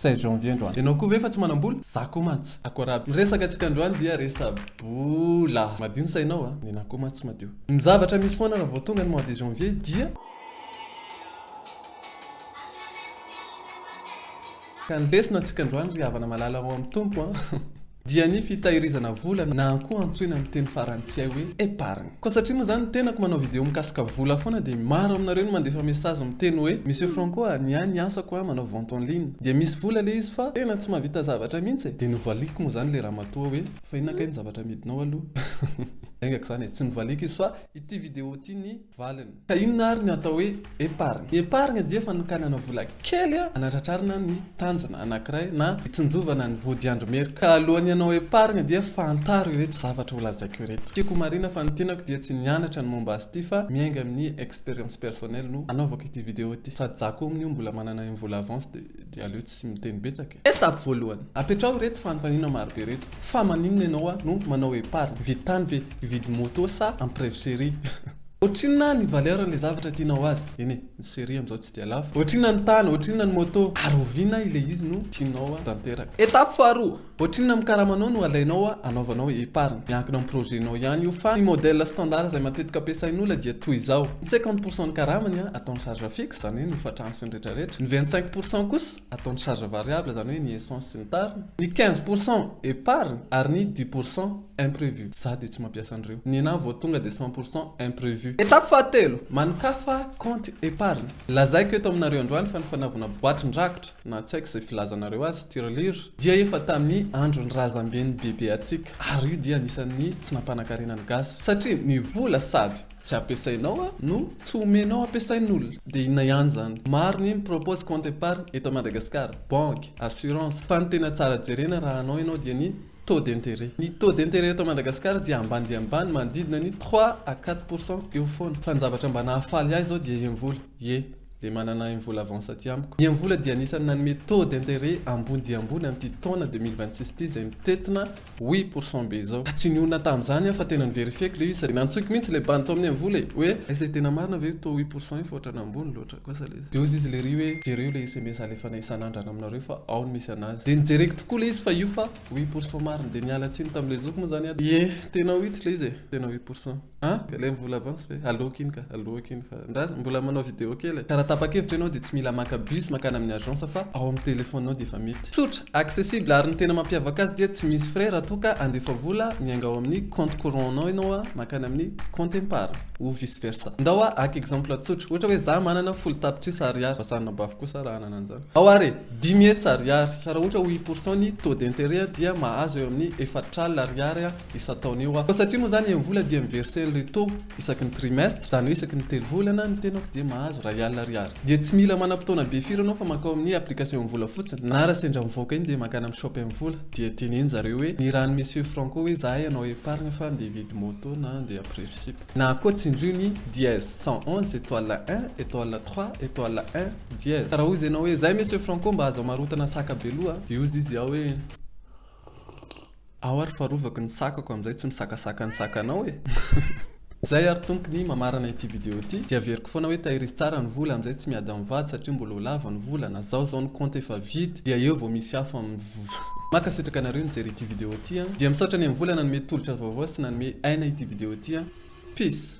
Treize janvier androany. Ianao koa ve fa tsy manam-bola? Za koa mantsy. Akory aby. Ny resaka antsika androany dia resa-bola. Madio ny sainao a. Ny anah koa mantsy tsy madio. Ny zavatra misy foana raha vao tonga ny mois de janvier dia. Ka ny lesona antsika androany ry havana malala ao amin'ny Tompo an. dia ny fitahirizana vola na koa antsoina amin'ny teny farantsay hoe épargne. Koa satria moa zany tenako manao vidéo mikasika vola foana dia maro aminareo no mandefa message miteny hoe Monsieur Franco a, ny ahy ny asako a manao vente en ligne dia misy vola le izy fa tena tsy mahavita zavatra mihitsy e, dia novaliako moa zany le ramatoa hoe fa inona kay ny zavatra amidinao aloha? Enga k'izany e, tsy novaliako izy fa ity vidéo ity ny. valiny. Ka inona ary ny atao hoe épargne? Ny épargne dia fanokanana vola kely hanatratrarana ny tanjona anankiray na hitsinjovana ny vodiandro mery. Ka alohan'ny hanao épargne dia fantaro ireto zavatra ho lazaiko ireto. Tiako ho marina fa ny tenako dia tsy nianatra ny momba azy ity fa miainga amin'ny expérience personnelle no anaovako ity vidéo ity. Sady za koa amin'io mbola manana im vola avance dia aleo tsy miteny betsaka e. Etape voalohany, apetraho ireto fanontaniana marobe ireto, fa maninona ianao a no manao epargne? Hividy tany ve? Hividy moto sa empreve serie? Ohatrinona ny valeur an'ilay zavatra tianao azy? Eny e, ny serie amin'izao tsy dia lafo. Ohatrinona ny tany? Ohatrinona ny moto? Ary oviana ilay izy no tianao tanteraka? Etape faharoa, ohatrinona amin'ny karamanao no alainao anaovanao epargne? Miankina amin'ny projet-nao ihany io, fa ny modèle standard izay matetika ampiasain'olona dia toy izao, ny cinquante pourcent ny karamany atao en charge fixe, izany hoe ny hofatrano sy ny retraretra, ny vingt cinq pourcent kosa, ataony charge variable izany hoe ny essence sy ny tariny, ny quinze pour cent épargne ary ny dix pour cent imprevu, za dia tsy mampiasa an'ireo, ny ena vao tonga dia cent pour cent imprevu. Étape fahatelo, manokafa compte épargne, lazaiko eto aminareo androany fa ny fanaovana boatin-drakitra na tsy haiko izay filazanareo azy, tirelire, dia efa tamin'ny andron'ny razamben'ny bebeantsika ary io dia anisan'ny tsy nampanankarena ny gasy satria ny vola sady. Tsy ampiasainao a, no tsy omenao ampiasain'olona. Dia inona ihany zany? Maro ny mi-propose compte épargne eto Madagascar, banque, assurance, fa ny tena tsara jerena raha hanao ianao dia ny taux d'intérêt. Ny taux d'intérêt eto Madagascar dia ambany dia ambany, manodidina ny trois à quatre pour cent eo foana. Fa ny zavatra mba nahafaly ahy izao dia Iamvola, ie, dia manana Iamvola avance aty amiko. Iamvola dia anisan'ny nanome taux d'intérêt ambony dia ambony amin'ity taona deux mille vingt six ity izay mitentina Oui pour son be zao. Ka tsy nionona tamin'izany aho fa tena ni-verifier-ko ilay izy sady nantsoiko mihitsy ilay bandy tao amin'ny Amvola e! hoe izay tena marina ve io toa oui pour son io fa ohatran'ny ambony loatra kosa ilay izy. Dia hozy izy lery hoe jereo ilay sms alefana isan'andrana aminareo fa ao no misy anazy. Dia nijereko tokoa ilay izy fa io fa oui pour son marina. Dia niala tsiny tamin'ilay zokiko moa izany aho. Ie, tena oui tsy ilay izy e! Tena oui pour son. An? Dia ilay mbola avance ve? Aloako iny ka, aloako iny fa ndra aza mbola manao video kely e. Ka raha tapa-kevitra ianao dia tsy mila maka bus mankany amin'ny agence fa ao amin'ny téléphone-nao dia efa mety. Tsotra, accessible ary ny tena mampiavaka azy dia tsy misy frais raha toa ka handefa vola miainga ao amin'ny compte courant-nao ianao mankany amin'ny compte epargne ou vice versa. Ndao aho haka exemple tsotra, ohatra hoe za manana folo tapitrisa ariary, fa samy nabaviko koa sa raha hanana an'izany aho ary e, dimy hetsy ariary, fa raha ohatra ho i pourcent ny taux d'interet dia mahazo eo amin'ny efatr'alina ariary isan-taona io aho. Fa satria moa izany em-vola dia mi-verser an'ilay taux isaky ny trimestre, izany hoe isaky ny telo volana, ny tenako dia mahazo iray alina ariary. Dia tsy mila manam-potoana be firy ianao fa mankao amin'ny application em-vola fotsiny, na raha sendra mivoaka iny dia mankany amin'ny shop em-vola, dia teneno zareo hoe nirahan'i Monsieur Franco hoe izahay hanao épargne fa handeha hividy moto na handeha après fsip. Na koa tsindrio ny dièse cent onze étoile un étoile trois étoile un dièse. Ka raha hoy izay ianao hoe, Izay Monsieur Franco mba aza marotana saka be loha a! Dia hozy izy ao hoe. Aho ary fa rovako ny sakako amin'izay tsy misakasaka ny sakanao e! Izay ary Tompo ny mamarana ity video ity dia averiko foana hoe tahirizy tsara ny vola amin'izay tsy miady amin'ny vady satria mbola ho lava ny vola na zao zao ny compte efa vide dia eo vao misy hafa mivovoha. Mankasitraka anareo nijery ity video ity an! Dia misaotra ny MVola nanome tolotra vaovao sy nanome aina ity video ity an! Peace!